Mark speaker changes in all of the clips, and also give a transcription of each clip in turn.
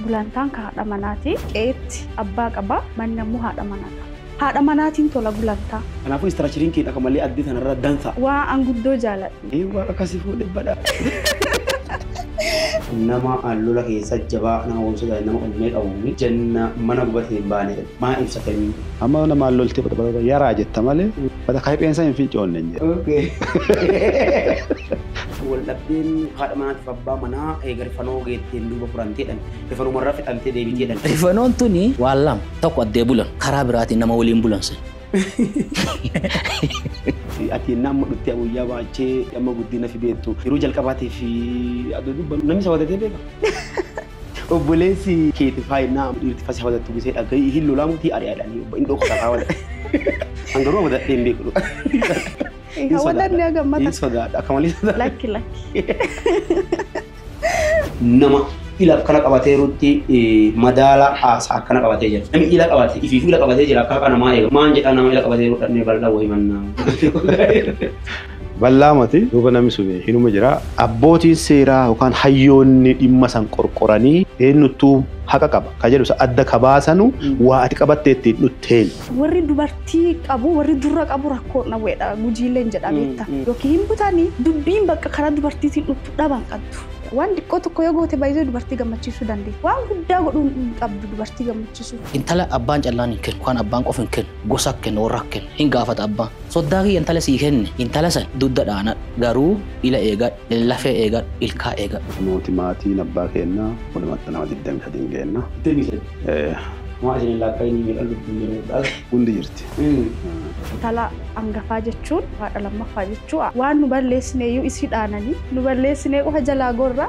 Speaker 1: Gulantaan ka haadha
Speaker 2: manaati. Qe'eetti abbaa qaba, manni ammoo haadha manaa qaba. Haadha manaatiin tola gulantaa. Kanaafuu istiraachariin
Speaker 1: kee akka malee addee tana irra dansa. Waa an guddoo
Speaker 2: jaaladhu. Ee waaqa akka si fuudhe
Speaker 1: badhaadhe. Nama lola keessa jabaa, nama obsa daa'e, nama onnee qabu. Janna mana gubate hin baane. maa ibsatanii. Amma mana maal loltee
Speaker 3: fudha barada yaraa jetta malee fata kahipheensa hin fincoonne hin jedhu. Okay.
Speaker 1: Waldhabdeen haadha manaatiif abbaa manaa eega rifanoo geetteen duuba furanteedhan. Rifanumarra fixantee deebiteedhan. Rifanoon tuni
Speaker 4: waan lama. Tokko addee bulan. Karaa biraatiin nama waliin bulan san.
Speaker 1: Ati yennaa amma dhuttee guyyaa baachee amma guddina fi beettu yeroo jalqabaatiif adoo dubbannu namni isa wadatee beeka? Obboleessi keeti faa innaa amma dhiirti fasi hawadattu gisee dhagayi ihin lolaamu tii ari'a jedhanii obbo indhoo kota faa wadadhe. An garuu hawadadhee hin beeku dhuga. Hin
Speaker 2: hawadanne haga mata. Hin sodaadha akka malee
Speaker 1: sodaadha. Lakki lakki. Nama ila akkana qabatee rutti madaala haasa akkana qabatee jira. Nami ila qabate ifiifuu ila qabatee jira akka haqa namaa eega. Maan jedhaa nama ila qabatee rudhannee bal'aa wayi mannaa.
Speaker 3: Ballaa mati duuba nami suni hinuma jira. Abbootiin seeraa yookaan hayyoonni dhimma san qorqoranii eennuttuu haqa qaba ka jedhu san adda ka baasanu waa ati qabattee ittiin dhutteeni. Warri dubartii
Speaker 2: qabu, warri durra qabu rakkoo hin dhabu jedha Gujiilleen jedha beetta. Yookiin hin butani, dubbiin bakka karaa dubartiitiin dhuttu dhaba hin qaddu. Waan diqqoo tokko yoo goote by the way dubartii gammachiisuu dandeetti. Waan guddaa godhuu hin qabdu dubartii gammachiisuuf. Intala abbaan callaan
Speaker 4: hin kennu, yookaan abbaan qofa hin kennu, gosa kenna, warra kenna. Hin gaafata abbaan. Soddaa kiyya intala sii kenne, intala san dudda dhaanadhu, garuu ila eegadhu, lafee eegadhu, ilkaa eegadhu. Nuuti maatiin
Speaker 3: abbaa keenna walumatti nama 23 geenna. 23? Homaa
Speaker 1: isin hin laakka'inii meeqan lubbuun jiru dhalte? Hundi jirti.
Speaker 3: Intala
Speaker 2: angafaa jechuun haadha lammaffaa jechuu a. Waan nu balleessineeyyuu isii dhaananii, nu balleessinee qofa jalaa gorra.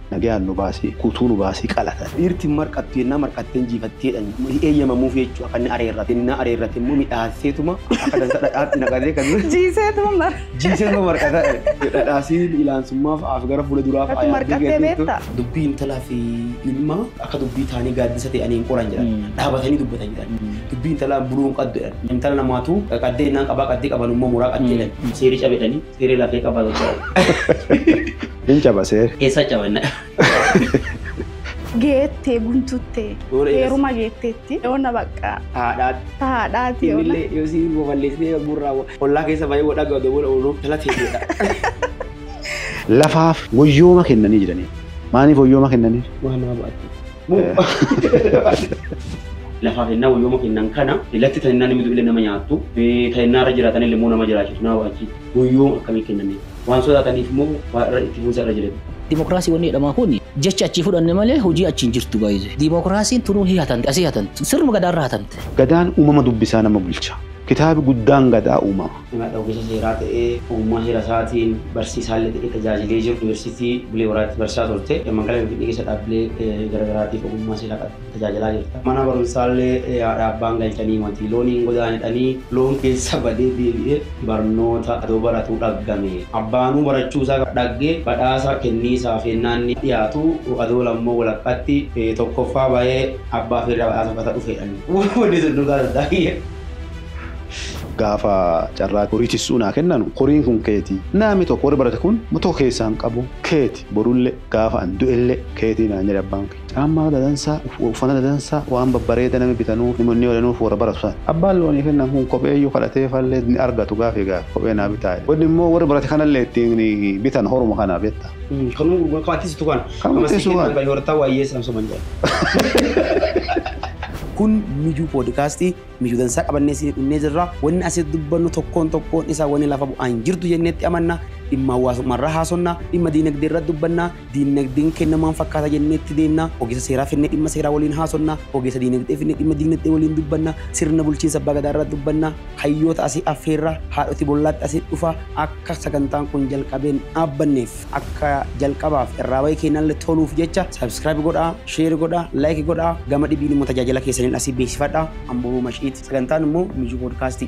Speaker 3: Nagayaan nu baasi, guutuu nu baasi qalata. Dhiirti hin marqattu yennaa
Speaker 1: marqatte hin jiifatti jedhan. Hin eeyyamamuuf jechu'u akka inni areerratu. Yennaa areerrate immoo midhaasseetuma akka dansa dhadhaatti naqatee kan jiru. Jiiseetuma mar. Jiiseetuma marqata. Dhadhaasiin ilaansummaa fa'aaf gara fuula duraa fa'a Ati yaaddee marqattee geetteettu. beetta?
Speaker 2: Dubbii intalaa fi
Speaker 1: ilmaa akka dubbii taanii gaaddisa te'anii hin qoran jedhan. Dhaabatanii dubbatan jedhan. Dubbii intalaan buluu hin qaddu jedhan. Intala namaatu qaddee yennaan qabaa qaddee qabanummoo muraa qaddi jedhan. Seeri cabe jedhanii. Siri lafee qaba yoo
Speaker 3: ta'u. Hin caba seeri. Eessa
Speaker 1: cabanna?
Speaker 2: Geettee guntuttee Yoo dheeras- heeruma geetteetti yoona bakka Haadhaatti. haadhaati yoona. Innillee yoo si
Speaker 1: babal'isnee yommuu irraa ollaa keessa baay'ee wal dhagaa odoo wal ooluuf jala teesseedha. Lafaaf
Speaker 3: woyyooma kennanii jiranii. Maaliif woyyooma kennaniif? Waan nama baatti.
Speaker 1: Lafaa kennaa wayyooma kennan kana latti ta'innaa namni du'illee nama nyaattu ta'innaa irra jiraatan illee immoo nama jiraachisu nama achi wayyooma akkamii kenname waan sodaataniif immoo waan irra itti fuunsa irra jireenya. Dimokiraasii wanni jedhamaa
Speaker 4: kun jecha achii fudhanne malee hojii achi hin jirtu baay'ee. Dimokiraasiin tunuun hii hatamte asii hatamte sirnuma gadaarra hatamte. Gadaan uumama dubbisaa
Speaker 3: nama bulcha. Kitaabi guddaan Gadaa uumama. Himadha ogeessa seeraa
Speaker 1: ta'ee ogummaa seera isaatiin barsiisaallee ta'ee tajaajilee jiru. Yuunivarsiitii Bulee Horaatti barsiisaa turte. Magaalaa Finfinnee keessa dhaabbilee garagaraatiif ogummaa seeraa qabda tajaajilaa jirta. Mana barumsaallee haadha abbaan galchaniimati looniin godaanedhanii loon keessa badee deebi'ee barnoota adoo baratuu dhaggame. Abbaanuu barachuu isaa dhaggee badhaasa kenniisaaf yennaa inni dhiyaatu adoo lammoo walakkaatti tokkoffaa bayee abbaa feerraa badhaasa fudhata dhufeedhanii. Wonni sun dhugaa duddaa kiyya.
Speaker 3: Gaafa carraa horii tissuu naa kennanu horiin kun keeti. Naami tokko warri barate kun ma tokko keessaa hin qabu. Keeti borulle gaafa an du'elle keeti naan jedhe abbaan kiyya. Caammaa dadansaa, uffana dadansaa, waan babbareeda nami bitanuuf, nmi odanuuf worra baratu san. Abbaan loonii kennan kun kopheeyyuu kadhateefallee hin argatu gaafii gaafa kophee naa bitaa jedhe. Wonni immoo warri barate kanallee ittiin bitan horuma kana betta. Kanuma gurgura kama
Speaker 1: tisitu kana. Kama sii kennan ka yoortaa waayyeessan soban jedhan. Kun Mijuu Poodkaastii. Mijuu dansaa qabannee isinii dhunnee jirra. Wanni asitti dubbannu tokkoon tokkoon isaa wanni lafa bu'aa hin jirtu jennee itti amanna. Dhimma hawaasummaa irraa haasofna. Dhimma diinagdee irra dubbanna. Diinagdeen kenna maal fakkaata jennee itti deemna. Ogeessa seeraa finnee dhimma seeraa waliin haasofna. Ogeessa diinagdee finnee dhimma diinagdee waliin dubbanna. Sirna bulchiinsa abbaa gadaa irra dubbanna. Hayyoota asii affeerra. Haadhoti bollaatti asitti dhufa. Akka sagantaan kun jalqabeen dhaabbanneef. akka jalqabaaf irraa bayee keennalle toluuf jecha subscribe godha share godha like godha gama dhibiin immoo tajaajila keessaniin asii beeksifadha amboo mashiit sagantaan immoo mijuu podcast